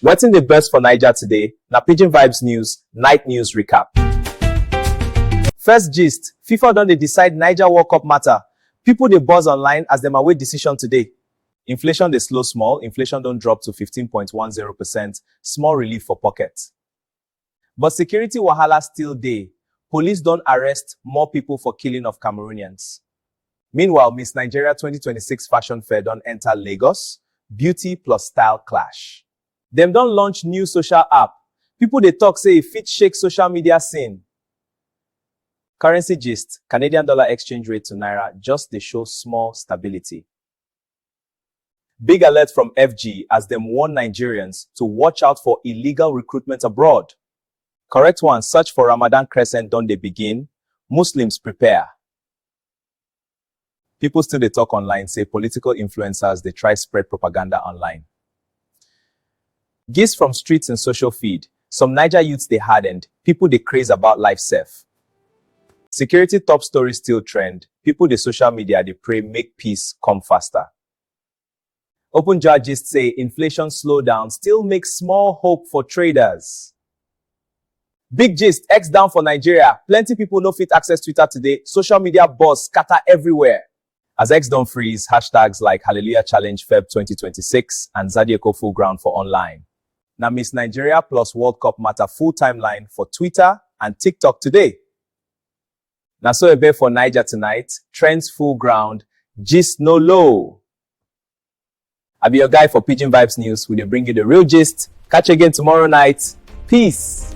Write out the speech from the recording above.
Wetin dey burst for Naija today na Pidgin Vibes News Night News Recap. First gist, FIFA don dey decide Naija World Cup matter, people dey buzz online as dem await decision today. Inflation dey slow small, inflation don drop to fifteen point one zero percent, small relief for pocket. But security wahala still dey, police don arrest more people for killing of Cameroonians. Meanwhile, Miss Nigeria twenty twenty six fashion fair don enter Lagos, beauty plus style clash. Dem don launch new social app, people dey talk say e fit shake social media scene. Currency gist, Canadian dollar exchange rate to naira just dey show small stability. Big alert from FG as dem warn Nigerians to watch out for illegal recruitment abroad. Correct one, search for Ramadan crescent don dey begin, Muslims prepare. People still dey talk online say political influencers dey try spread propaganda online. Gist from streets and social feed, Some Naija youths dey hardened, people dey craze about life sef. Security top story still trend, people dey social media dey pray make peace come faster. Openjar gist say inflation slowdown still make small hope for traders. Big gist, X down for Nigeria, plenty people no fit access Twitter today, social media buzz scatter everywhere. As X don freeze hashtags like Hallelujah Challenge Feb twenty twenty six and Zadyeko Full Ground for online. Na Miss Nigeria plus World Cup matter full timeline for Twitter and TikTok today. Na so e be for Niger tonight, trends full ground, gist no low. I be your guy for Pidgin Vibes News. We dey bring you the real gist. Catch you again tomorrow night. Peace.